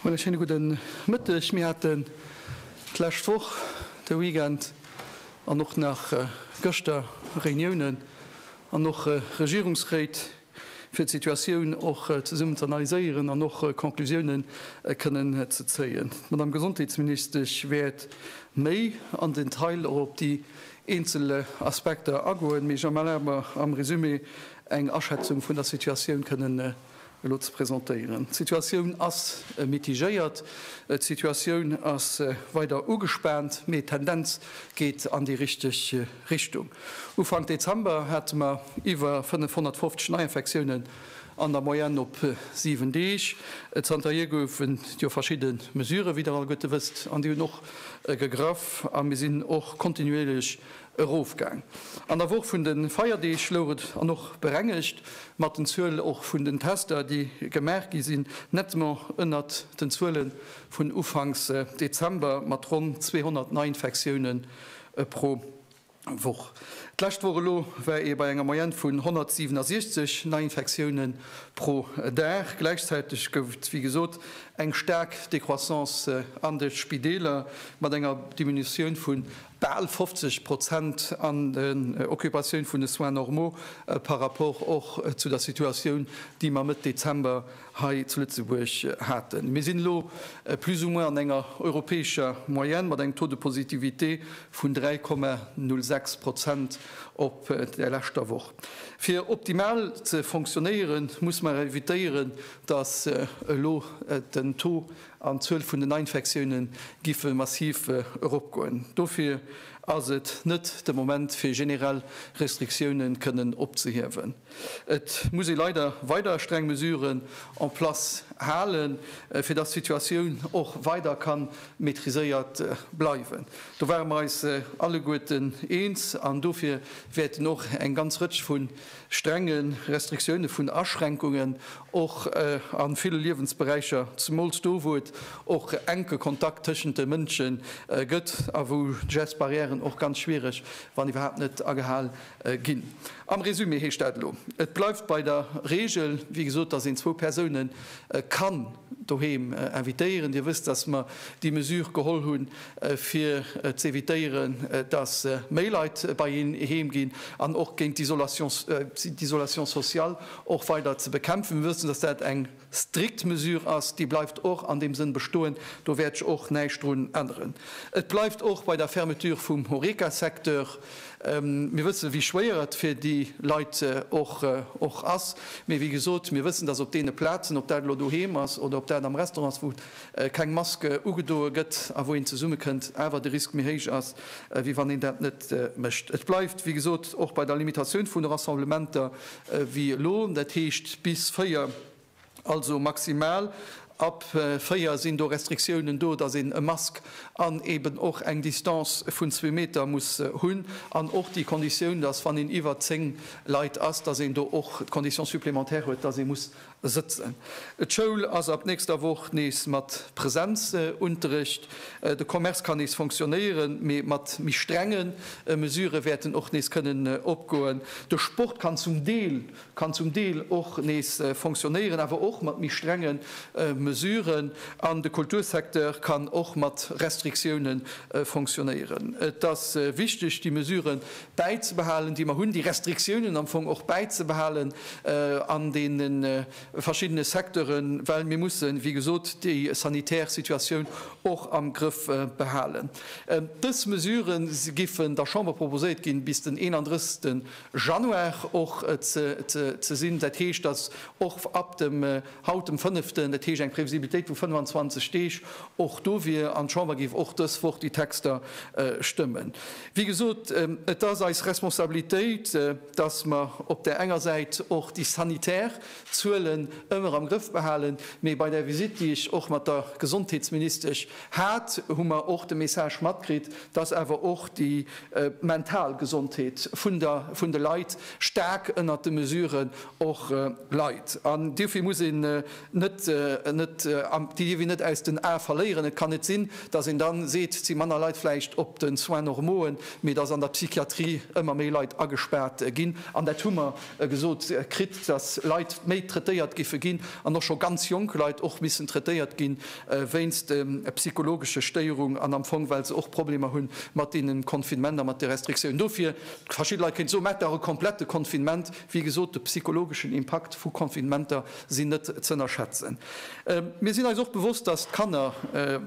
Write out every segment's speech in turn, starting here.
Meine schéine gudden Mëtteg. Mir haten d'lescht Woch, de Weekend an och nach gëschter Reuniounen an och Regierungsréit. fir d'Situatioun och zesummen z'analyséieren an och Conclusioune kënnen ze zéien. D'Madamm Gesondheetsministesch wäert méi am Detail och op déi eenzel Aspekter agoen, mee ech erlabe mer, am Resumé eng Aschätzung vun der Situatioun kënnen elo ze presentéieren. D'Situatioun ass mitigéiert, d'Situatioun ass weider ugespaant, mee d'Tendenz geet an déi richteg Richtung. Ufank Dezember hate mer iwwer 550 Neiinfektiounen an der Moyenne op 7 Deeg. Zanterhier gouf et jo verschidde Mesurë, wéi Der alleguerte wësst, an déi hunn och gegraff a mir sinn och kontinuierlech erofgaang. An der Woch vun de Feierdeeg louch et an och berengegt mat den Zuele och vun den Tester, déi gemaach gi sinn, nettement ënnert den Zuele vun Ufanks Dezember mat ronn 200 Neiinfektiounen E pro Woch. D'lescht Woch elo war ee bei enger Moyenne vun 167 Neiinfektioune pro Dag. Gläichzäiteg gouf et, wéi gesot, eng staark Decroissance an de Spideeler mat enger Diminutioun vu bal 50 Prozent an den Occupatioun vun de Soins normaux par rapport och zu der Situatioun, déi mer Mëtt Dezember hei zu Lëtzebuerg haten. Mir sinn elo plus ou moins an enger europäescher Moyenne mat engem Taux de positivité vun 3,06 Prozent op der leschter Woch. Fir optimal ze fonctionnéieren, muss mer evitéieren, dass elo den Taux an d'Zuel vun den Neiinfektioune giffe massiv eropgoen. Dofir ass et net de Moment, fir generell Restriktiounen kënnen opzehiewen. Et muss ee leider weider streng Mesuren en place halen, fir dass d'Situatioun och weider ka maitriséiert bleiwen. Do ware mer eis alleguerten eens an dofir wäerten och eng ganz Rëtsch vu strenge Restriktioune vun Aschränkungen och a ville Liewensberäicher, zemools do wou et och enke Kontakt tëschent de Mënsche gëtt a wou d'Gest barrièren och ganz schwiereg, wann iwwerhaapt net agehal Ginn. Am Résumé heescht dat elo, et bleift bei der Regel, wéi gesot, dass een zwou Persoune kann doheem invitéieren. Dir wësst, dass mer déi Mesure geholl hunn, fir ze evitéieren, dass méi Leit bei een heem ginn an och géint d'Isolation, d'Isolation sociale och weider ze bekämpfen. Mir wëssen, dass dat eng. strikt Mesure ass, déi bleift och an deem Sënn bestoen. Do wäert ech och näischt drun änneren. Et bleift och bei der Fermeture vum Horeca-Secteur. Mir wëssen, wéi schwéier et fir déi Leit och ass. Mee wéi gesot, mir wëssen, dass op deene Plazen, ob dat elo doheem ass oder ob dat am Restaurant ass, wou keng Maske ugedoe gëtt a wou een zesummekënnt, awer de Risk méi héich ass, wéi wann een dat net mécht. Et bleift, wéi gesot, och bei der Limitatioun vun de Rassemblementer. Wéi elo, dat heescht bis véier, also maximal ab véier sinn do Restriktiounen do, dass een e Mask an eeben och eng Distance vun zwee Meter muss hunn an och déi Konditioun, dass wann een iwwer zéng Leit ass, dass een do och d'Condition supplémentaire huet, dass ee muss Sëtzen. D'Schoul ass ab nächster Woch nees mat Presenzunterrecht. De Commerce kann nees fonctionnéieren, mee mat méi strenge Mesurë wäerten och nees kënnen opgoen. De Sport kann zum Deel kann zum Deel och nees fonctionnéieren, awer och mat méi strenge Mesuren. An de Kultursecteur kann och mat Restriktioune fonctionnéieren. Et ass wichteg, déi Mesurë bäizebehalen, déi mer hunn, déi Restriktiounen am Fong och bäizebehalen an deene verschiddene Secteuren, well mir mussen, wéi gesot, déi sanitär Situatioun och am Grëff behalen. Dës Mesurë giffen der Chamber proposéiert ginn, bis den 31 Januar och ze sinn. Dat heescht, datt och ab dem haut, dem fënneften, dat heescht eng Previsibilitéit vu 25 Deeg och do wier an d'Chamber géif och dës Woch déi Texter stëmmen. Wéi gesot, et ass eis Responsabilitéit, dass mer op där enger Säit och déi sanitär Zuelen ëmmer am Grëff behalen, mee bei där Visite, déi ech och mat der Gesondheetsministesch hat, hu mer och de Message matkritt, dass awer och déi mental Gesondheet vun de Leit staark ënnert de Mesuren och leit. An dofir muss ee déi dierf een net aus den Ae verléieren. Et kann net sinn, dass een da seet, et si manner Leit vläicht op de Soins normauen, mee dass an der Psychiatrie ëmmer méi Leit agespaart ginn. An dat hu mer gesot kritt, dass Leit méi traitéiert géife ginn an och scho ganz jonk Leit och missen traitéiert gi wéinst psychologesche Stéierung an am Fong, well se och Problemer hu mat deenen Confinement a mat de Restriktiounen. Dofir, verschidde Leit kéinte soen, Maacht dach e komplette Confinement. Wéi gesot, de psychologeschen Impakt vu Confinementer, sinn net z'ënnerschätzen. Mir sinn eis och bewosst, dass d'Kanner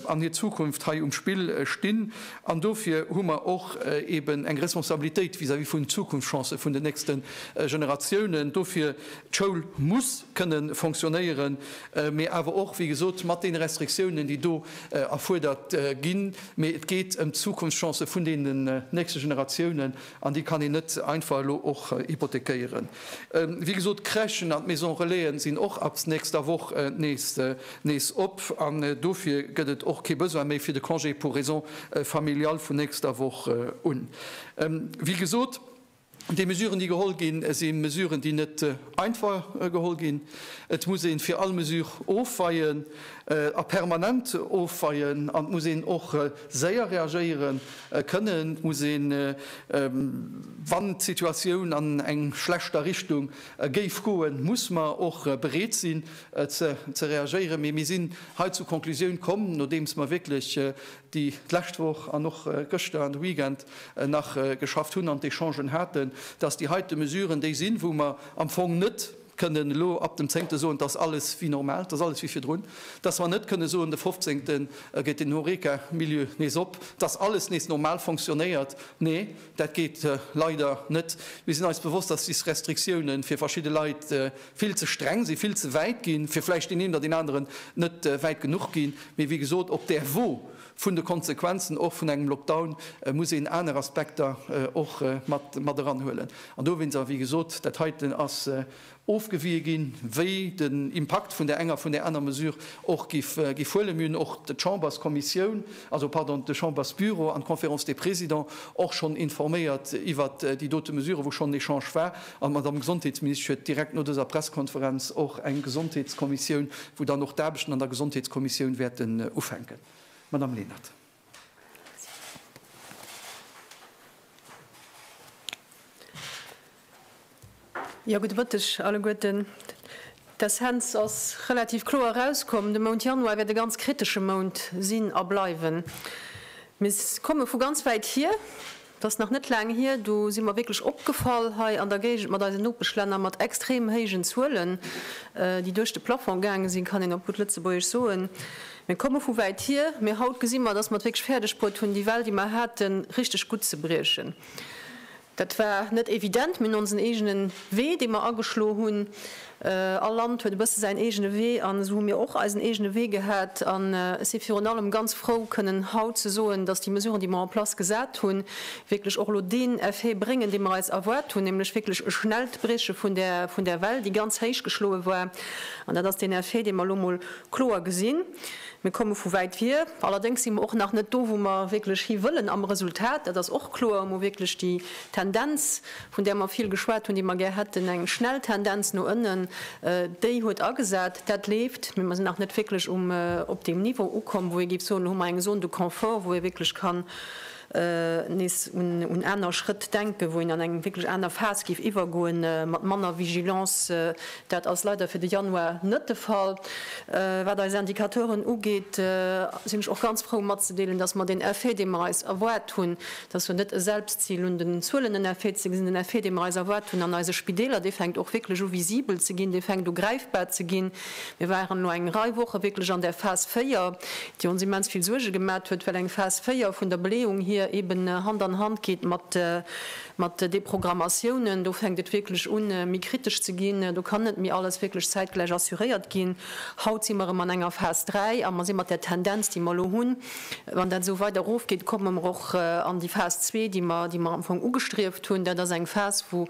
an hir Zukunft hei um Spill stinn, an dofir hu mer och eben eng Responsabilitéit vis-à-vis vun Zukunftschancen vun den nächste Generatiounen. Dofir, D'Schoul muss kënne fonctionnéieren, mä awer och, wéi gesot, mat deene Restriktiounen, déi do erfuerdert ginn, mä et geet ëm d'Zukunftschancen vun deenen nächste Generatiounen. An déi kann een net einfach elo och hypothekéieren. Wéi gesot, d'Crèchen an d'Maison relaisen sinn och ab nächster Woch nees op. An dofir gëtt et och kee Besoin méi fir de Congé pour raisons familiales vun nächster Woch un. Wéi gesot, déi Mesuren, déi geholl ginn, si Mesuren, déi net, Einfach geholl ginn. Et muss ee fir all Mesure ofweien, a permanent ofweien, an et muss een och séier reagéiere kënnen. Et muss een, wann d'Situatioun an eng schlechter Richtung géif goen, muss mer och bereet sinn ze reagéieren. Mee mir sinn hei zur Konklusioun komm, nodeems mer wierklech déi d'lescht Woch an och gëschter an de Weekend nach geschafft hunn an d'Echangen haten, dass déi heite Mesuren déi sinn, wou mer am Fong net kënnen elo ab dem Zéngte soen, dass alles wie normal, dass alles wie virdrun, dass mer net kënne soen, de Fofzéngte geet den Horeca-Milieu nees op, dass alles nees normal fonctionnéiert. Nee, dat geet leider net. Mir sinn eis bewosst, dass des Restriktiounen fir verschidde Leit, vill ze streng si, vill ze wäit gi fir vläicht deen een oder deen aneren net wäit genuch gi. Mee wéi gesot, op där Wo vun de Konsequenzen och vun engem Lockdown muss een aner Aspekter och mat eranhuelen. An dowéinst ass, wéi gesot, dat heiten ass ofgewie ginn, wéi den Impakt vun där enger, vun där aner Mesure och géif huelen. Mir hunn och d'Chamberskommissioun, also pardon, de Chambersbüro an d'Conférence des Présidents och schonn informéiert iwwert déi dote Mesure, wou schonn en Echange war. An d'Madame Gesondheetsministesch huet direkt no dëser Pressekonferenz och eng Gesondheetskommissioun, wou dann och d'Aarbechten an der Gesondheetskommissioun wäerten ufänken. Madame Lenert. Jo, gudde Mëtteg alleguerten. D'Essenz ass relativ kloer erauskomm, De Mount Januar wäert e ganz kritesche Mount sinn a bleiwen. Mir komme vu ganz wäit hier. Et ass nach net laang hier, do si mer wierklech opgefall hei an der Géigend mat eisen Nopeschlänner mat extrem héijen Zuelen, déi duerch de Plafong gaange sinn, kann een op gutt Lëtzebuergesch soen. Mir komme vu wäit hier, mee haut gesi mer, dass mer et wierklech fäerdeg bruet hunn, déi Well, déi mer haten, richteg gutt ze briechen. Dat war net evident, mee onsen eegene Wee, dee mer ageschlo hunn, All Land huet e bësse säin eegene Wee an esou hu mir och eisen eegene Wee gehat. An ech si virun allem ganz frou kënnen haut ze soen, datt déi Mesuren, déi mer en place gesat hunn, wierklech och elo deen Effet bréngen, dee mer eis erwaart hunn, nämlech wierklech e schnellt Brieche vun där Well, déi ganz héich geschloe war. An dat ass deen Effet, dee mer elo emol kloer gesinn. Mir komme vu wäit vir. Allerdéngs si mer och nach net do, wou mer wierklech hiwëllen am Resultat, dat ass och kloer, emol wierklech déi Tendenz, vun där mer vill geschwat hunn, déi mer gär hätten, eng schnell Tendenz no ënnen, déi huet agesat. Dat leeft, mee mer sinn nach net wierklech um, op deem Niveau ukomm, wou ee géif soen, elo hu mer eng Zone de confort, wou ee wierklech kann nees un, un aner Schrëtt denken, wou een an eng wierklech aner Phas géif iwwergoen, mat manner Vigilance. Dat ass leider fir de Januar net de Fall. Wat eis Indicateuren ugeet, sinn ech och ganz frou matzedeelen, dass mer deen Effet, dee mer eis erwaart hunn, Dat ass jo net e Selbstzil. Un den Zuelen, den Effet ze gesinn, den Effet, dee mer eis erwaart hunn an eise Spideeler, dee fänkt och wierklech u visibel ze ginn, dee fänkt u gräifbar ze ginn. Mir waren elo eng Rei Woche wierklech an där Phas 4, déi ons immens vill Suerge gemat huet, well eng Phas 4 vun der Beleeung hier eeben Hand an Hand geet mat Deprogrammatiounen. Do fänkt et wierklech u méi kritesch ze ginn. Do kann net méi alles wierklech zäitgläich assuréiert ginn. Haut si mer erëm an enger Phas 3 a mer si mat där Tendenz, déi mer elo hunn, Wann dat esou weider erofgeet, komme mer och an déi Phas zwee, déi mer, déi mer am Fong ugestrieft hunn. Dat ass eng Phas, wou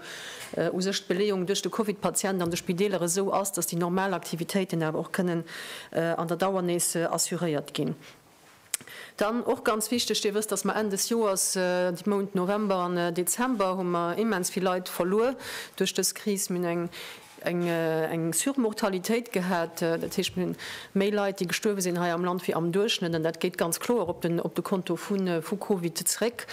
u sech d'Beleeung duerch de Covid-Patient an de Spideeler esou ass, dass déi normal Aktivitéiten awer och kënnen an der Dauer nees assuréiert ginn. Dann och ganz wichteg, Dir wësst, dass mer Enn des Joers, de Mount November an Dezember hu mer immens vill Leit verluer duerch dës Kris. Mir hunn eng. eng Surmortalitéit gehat, dat heescht mir hunn méi Leit déi gestuerwe sinn hei am Land wéi am Duerchschnëtt an dat geet ganz kloer op de Konto vu Covid zréck.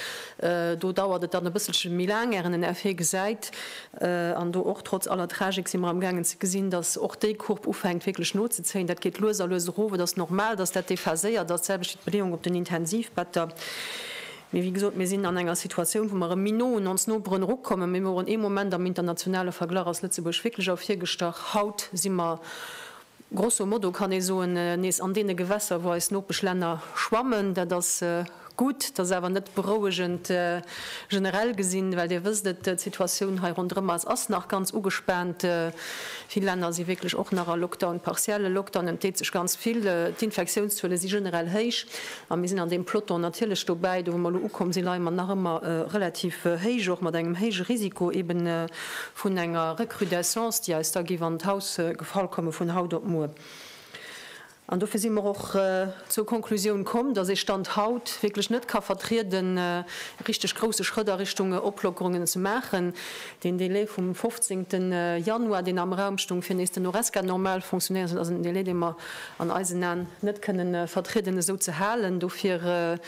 Do dauert et dann e bësselche méi laang ären en Effet gesäit an do och trotz aller Tragik si mer am gaangen ze gesinn, datt och déi Courbe ufänkt wierklech nozezéien. Dat geet lues a lues erof. Et ass normal, datt dat déphaséiert ass. D'selwecht fir d'Beleeung op den Intensivbetter. Mee wéi gesot, mir sinn an enger Situatioun, wou mer erëm méi no un ons Noperen erukommen. Mir woren ee Moment am internationale Verglach ass Lëtzebuerg wierklech ervirgestach. Haut si mer, grosso modo kann ee soen, nees an deene Gewässer, wou eis Nopeschlänner schwammen. Dat ass gutt, dat ass awer net berouegend generell gesinn, well Dir wësst et, d'Situatioun hei ronderëm eis ass nach ganz ugespaant. Vill Länner si wierklech och nach a Lockdown, partielle Lockdown, et deet sech ganz vill, d'Infektiounszuele si generell héich. A mir sinn an deem Peloton natierlech dobäi, do wou mer elo ukomm sinn, leie mer nach ëmmer relativ héich, och mat engem héije Risiko eeben vun enger Recrudescence, déi eis da géif an d'Haus gefall komme vun haut op muer. An dofir si mer och zur Konklusioun komm, dass ee Stand haut wierklech net ka vertrieden, richteg grouse Schrëtt a Richtung Oplockerungen ze maachen, Den Délai vum 15. Januar, deen am Raum stoung, fir nees den Horesca normal fonctionnéieren ze loossen, ass en Délai, dee mer an eisen Aen net kënne vertrieden esou ze halen. Dofir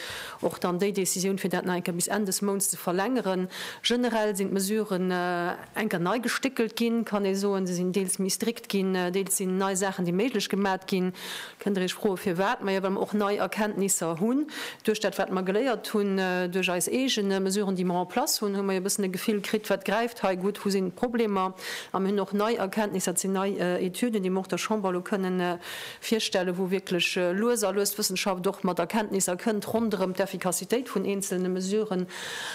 och dann déi Décisioun, fir dat nach eng Kéier bis Enn des Mounts ze verlängeren. Generell sinn d'Mesuren eng Kéier nei gestéckelt ginn, kann ee soen. Se sinn deels méi strikt ginn, deels sinn nei Saachen, déi méiglech gemat ginn. Kënnt Der Iech froe firwat? Maja, well mer och nei Erkenntnisser hunn. Duerch dat wat mer geléiert hunn, duerch eis eegene Mesuren déi mer en place hunn, hu mer jo e bëssen e Gefill kritt, wat gräift hei gutt, wou sinn d'Problemer? A mir hunn och nei Erkenntnisser, et sinn nei Etüden, déi mer och der Chamber elo kënnen virstellen, wou wierklech lues a lues d'Wëssenschaft och mat Erkenntnisser kënnt ronderëm d'Efficacitéit vun eenzelne Mesuren.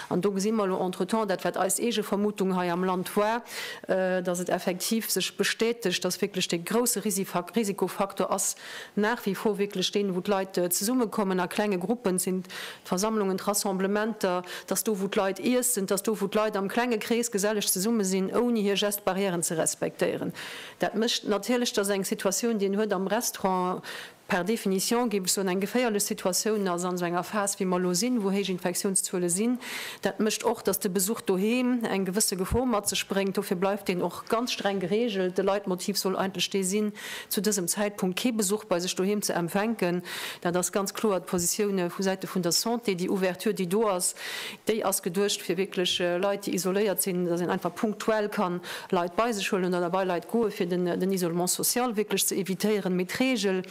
An do gesi mer elo entretemps dat wat eis eege Vermutung hei am Land war, dass et effektiv sech bestätegt, dass wierklech dee grouse Risikofaktor ass nach wie vor wierklech deen, wou d'Leit zesummekommen a klenge Gruppen sinn, d'Versammlungen, d'Rassemblementer, dass do, wou d'Leit iessen, dass do, wou d'Leit am klenge Krees geselleg zesumme sinn, ouni hir Geste-barrièren ze respektéieren. Dat mécht natierlech, dass eng Situatioun, déi een huet am Restaurant, per définition, géif ech soen, eng geféierlech Situatioun ass an esou enger Phas, wéi mer elo sinn, wou héich Infektiounszuele sinn. Dat mécht och, dass de Besuch doheem eng gewësse Gefor mat sech bréngt. Dofir bleift deen och ganz streng geregelt. De Leitmotiv soll eigentlech dee sinn, zu dësem Zäitpunkt kee Besuch bei sech doheem ze empfänken. Dat ass ganz kloer d'Positioun vu Säite vun der Santé. Déi Ouverture, déi do ass, Déi ass geduecht fir wierklech Leit, déi isoléiert sinn, dass een einfach punktuell ka Leit bei sech huelen oder bei Leit goe fir den Isolement social wierklech ze evitéieren. Mee d'Regel,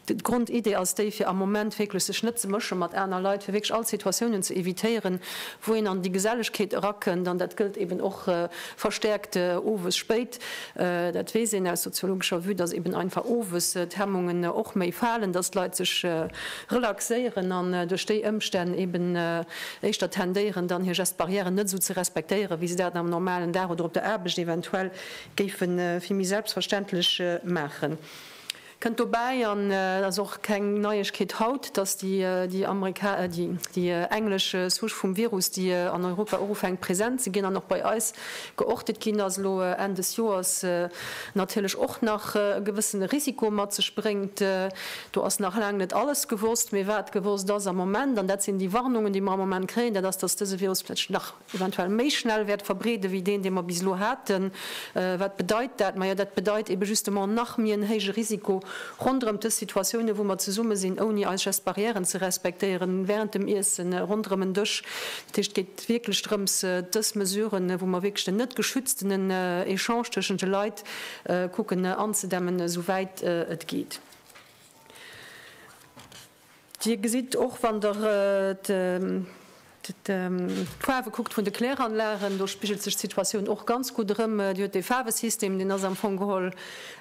d'Grondidee ass déi, fir am Moment wierklech sech net ze mësche mat aner Leit, fir wierklech all Situatiounen ze evitéieren, wou een an déi Gesellegkeet erakënnt. An dat gëllt eben och verstäerkt owes spéit. Dat weess een aus soziologescher Vue, dass eben einfach owes d'Hemmungen och méi falen, dass d'Leit sech relaxéieren an duerch déi Ëmstänn eben, éischter tendéieren dann hir Gestes barrièren net esou ze respektéieren, wéi se dat am normalen Dag oder op der Aarbecht eventuell géife vill méi selbstverständlech maachen, kënnt dobäi. An et ass och keng Neiegkeet haut, dass déi englesch Souche vum Virus, déi an Europa och ufänkt present ze ginn an och bei eis geortet ginn ass, elo Enn des Joers natierlech och nach e gewëssene Risiko mat sech bréngt. Do ass nach laang net alles gewosst, mee wat gewosst ass am Moment, an dat sinn déi Warnungen, déi mer am Moment kréien, dat ass, dass dëse Virus vläch nach eventuell méi schnell wäert verbreede wéi deen, dee mer bis elo haten. Wat bedeit dat? Majo dat bedeit ebe justement nach méi en héije Risiko ronderëm dës Situatiounen, wou mer zesumme sinn, ouni eis Gestes barrièren ze respektéieren, während dem Iessen, ronderëm en Dësch. Dat heescht, et geet wierklech drëms, dës Mesuren, wou mer wierklech den net geschütztenen Echange tëschent de Leit kucken anzedämmen, esou wäit et geet. Dir gesitt och, wann Der d'Faarwe kuckt vun de Kläranlagen, do spigelt sech d'Situatioun och ganz gutt erëm. Dir hutt dee Faarwesystem, deen ass am Fong geholl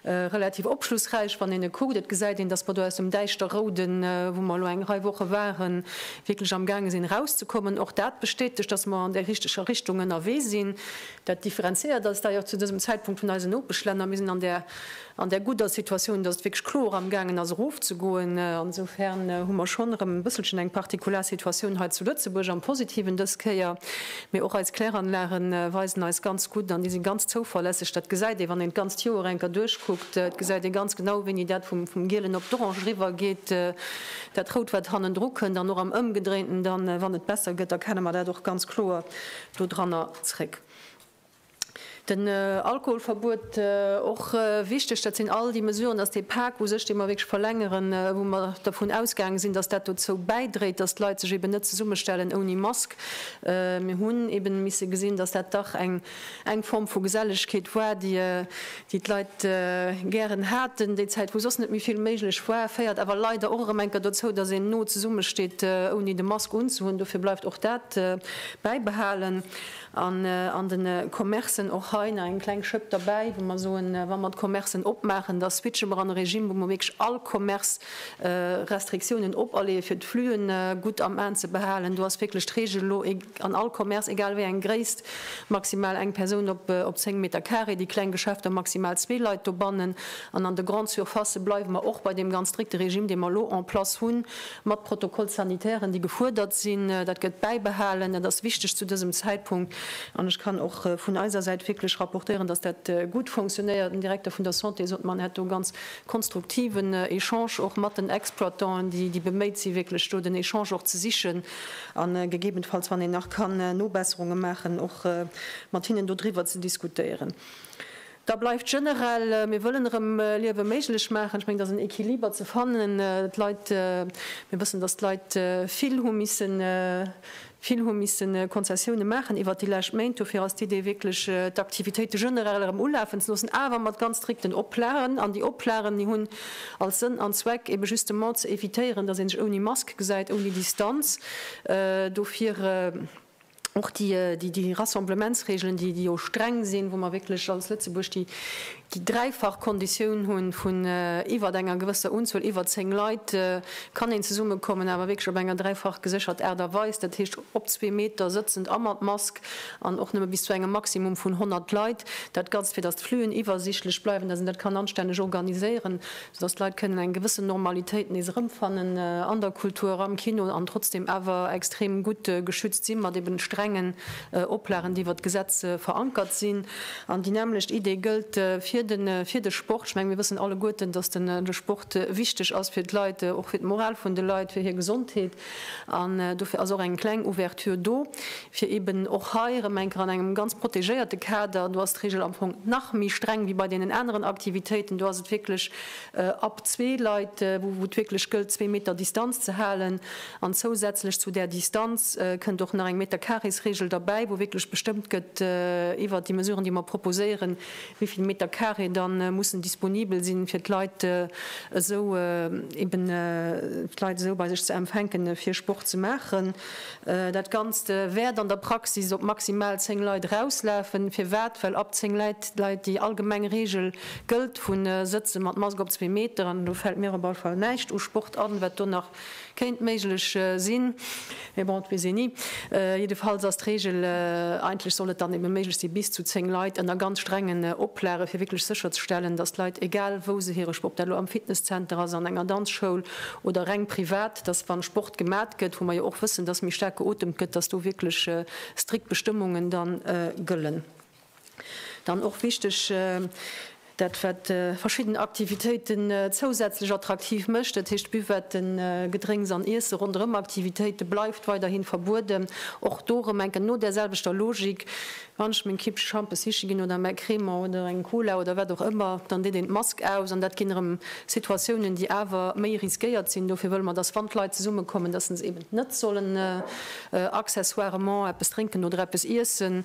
relativ opschlussräich, wann een e kuckt. Et gesäit een, datt mer do aus dem Däischterrouden, wou mer elo eng Rei Woche waren, wierklech am gaange sinn erauszekommen. Och dat bestätegt, datt mer an där richteger Richtung ënnerwee sinn. Dat differenzéiert eis da jo och zu dësem Zäitpunkt vun eisen Nopeschlänner. Mir sinn an där an där gudder Situatioun, dass et wierklech kloer amgaangen ass erofzegoen. Insofern hu mer schonn erëm e bësselchen eng Partikular-Situatioun hei zu Lëtzebuerg, am Positiven dës Kéier. Mee och eis Kläranlage weisen eis ganz gutt an déi si ganz zouverlässeg. Dat gesäit ee wann een d'ganzt Joer eng Kéier duerchkuckt, et gesäit ee ganz genau, wéini dat vum Gielen op d'Orange eriwwergeet, dat Rout, wat hannendru kënnt, an och am Ëmgedréinten dann, wann et besser gëtt, erkenne mer dat och ganz kloer dodranner zréck. Den Alkoholverbuet, och wichteg, dat sinn all déi Mesuren, dass dee Pak u sech, dee mer wierklech verlängeren, wou mer dervun ausgaange sinn, dass dat dozou bäidréit, dass d'Leit sech eben net zesummestellen ouni Mask. Mir hunn eben misse gesinn, dass dat dach eng Form vu Gesellegkeet war, déi d'Leit gären haten, déi Zäit wou soss net méi vill méiglech war, féiert awer leider och erëm eng Kéier dozou, dass een no zesummesteet ouni de Mask unzehunn. Dofir bleift och dat bäibehalen. An an den Commercen och hei nach eng kleng Schëpp derbäi, wou mer soen, wa mer d'Commercen opmaachen, da switche mer an e Regime, wou mer wierklech all Commerce Restriktiounen operleeë fir d'Flühen gutt am Aen ze behalen. Do ass wierklech d'Regel elo an all Commerce, egal wéi eng Gréisst, maximal eng Persoun op op 10 Meter carré, déi kleng Geschäfter maximal zwee Leit dobannen. An an de Grandes Surfacë bleiwe mer och bei deem ganz strikte Regime, dee mer elo en place hunn, mat Protocoles sanitairen, déi gefuerdert sinn, dat gëtt bäibehalen, dat ass wichteg zu dësem Zäitpunkt. An ech kann och vun eiser Säit wierklech rapportéieren, dass dat gutt fonctionnéiert. Den Direkter vun der Santé sot mer, en hätt do e ganz konstruktiven Echange och mat den Exploitanten, déi déi beméit si wierklech do den Echange och ze sichen a gegebenfalls, wann een nach kann Nobesserunge maachen, och mat hinnen dodriwwer ze diskutéieren. Da bleift generell, mir wëllen erëm Liewe méiglech maachen. Ech mengen, et ass en Equiliber ze fannen. D'Leit, mir wëssen, datt d'Leit vill hu missen, vill hu missen Konzessioune maachen iwwert déi lescht Méint. Dofir ass d'Idee wierklech, d'Aktivitéite generell erëm ulafen ze loossen, awer mat ganz strikten Oplagen. An déi Oplagen, déi hunn als Sënn an Zweck, ebe justement ze evitéieren, datt ee sech ouni Mask gesäit, ouni Distanz. Dofir. och déi Rassemblementsreegelen, déi jo streng sinn, wou mer wierklech als Lëtzebuerg déi dräifach Konditioun hu vun iwwert enger gewësser Unzuel, iwwer zéng Leit kann een zesummekommen, awer wierklech op enger dräifach geséchert Aart a Weis, dat heescht op zwee Meter sëtzend a mat Mask an och nëmme bis zu engem Maximum vun 100 Leit, dat Ganzt, fir datt d'Fluen iwwersiichtlech bleiwen, datt een dat kann anstänneg organiséieren. dass d'Leit kënnen eng gewëssen Normalitéit nees erëmfannen an der Kultur, am Kino, an trotzdeem awer extrem gutt geschützt sinn, mat eben strengen Oplagen, déi iwwert d'Gesetz verankert sinn. An déi nämlecht Idee gëllt fir de Sport. Ech mengen, mir wëssen alleguerten, dass de Sport wichteg ass fir d'Leit, och fir d'Moral vun de Leit, fir hir Gesondheet. An dofir ass och eng kleng Ouverture do, fir eben och hei erëm eng Kéier an engem ganz protegéierte Kader, do ass d'Regel am Fong nach méi streng wéi bei deenen aneren Aktivitéiten, do ass et wierklech ab zwee Leit, wou et wierklech gëllt, zwee Meter Distanz ze halen. An zousätzlech zu där Distanz kënnt och nach eng Meterkaresregel derbäi, wou wierklech bestëmmt gëtt iwwert déi Mesuren, déi mer proposéieren, wéi vill Meter Carré da mussen disponibel sinn, fir d'Leit esou eben d'Leit esou bei sech ze empfänken, fir Sport ze maachen. Dat Ganzt wäert an der Praxis op maximal zéng Leit erauslafen. Firwat? Well ab zéng Leit déi allgemeng Reegel gëllt vu Sëtze mat Mask op zwee Meter. An elo fält mir op alle Fall näischt u Sport an, wat do nach Kéint méiglech sinn, mee bon, et weess een ni. Jiddefalls ass d'Reegel, eigentlech soll et dann ebe méiglech si bis zu zéng Leit, ënner ganz strengen Oplage fir wierklech sécherzestellen, datt d'Leit, egal wou se hire Sport, ob dat elo am Fitnesszenter ass, an enger Danzschoul oder reng privat, datt wann Sport gemat gëtt, wou mer jo och wëssen, datt méi staark geotemt gëtt, datt do wierklech strikt Bestëmmungen da gëllen. Dann och wichteg, dat wat verschidden Aktivitéiten zousätzlech attraktiv mécht, dat heescht Buvetten, Gedrénks an Iesse ronderëm Aktivitéite bleift weiderhi verbueden. Och do erëm enken no där selwechter Logik, wann ech meng Kippche Schampes siche ginn oder mäi Cremant oder eng Cola oder wat och ëmmer, dann deet een d'Mask aus an dat ginn erëm Situatiounen, déi awer méi riskéiert sinn. Dofir wëlle mer, dass wann d'Leit zesummekommen, dass se eben net sollen accessoirement eppes drénken oder eppes iessen.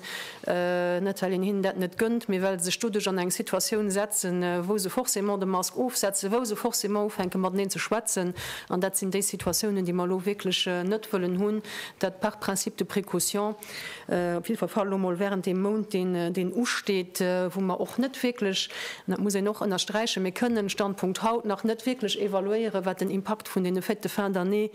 Net well een hinnen dat net gënnt, mee well se sech doduerch an eng Situatioun setzen, wou se forcément de Mask ofsetzen, wou se forcément ufänke mateneen ze schwätzen. An dat sinn déi Situatiounen, déi mer elo wierklech net wëllen hunn, dat par principe de précaution, op jidde Fall elo mol während deem Mount, deen usteet, wou mer och net wierklech, an dat muss een och ënnersträichen, mir kënnen, Standpunkt haut, nach net wierklech evaluéieren, wat den Impakt vun deene Fêtes de fin d'année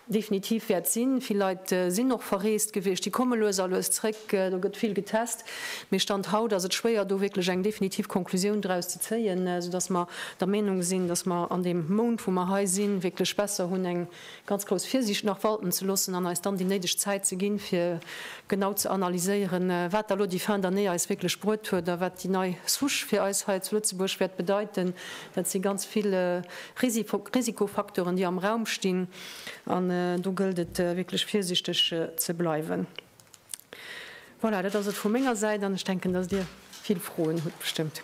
Definitiv wäert sinn. Vill Leit sinn och verreest gewiescht, déi komme lues a lues zréck. Do gëtt vill getest, mee Stand haut ass et schwéier do wierklech eng definitiv Conclusioun draus ze zéien, soudass mer der Meenung sinn, dass mer an deem Mount wou mer hei sinn, wierklech besser hunn eng ganz grouss Virsiicht nach walten ze loossen an eis dann déi néideg Zäit ze ginn, fir genau ze analyséieren, wat da lo déi Fin d'année eis wierklech bruet huet a wat déi nei Souche fir eis hei zu Lëtzebuerg wäert bedeiten. Et si ganz vill Risikofacteuren, déi am Raum stinn, an do gëllt et wierklech virsiichteg ze bleiwen. Voilà, dat ass et vu menger Säit, an ech denken, dass Dir vill Froen hutt bestëmmt.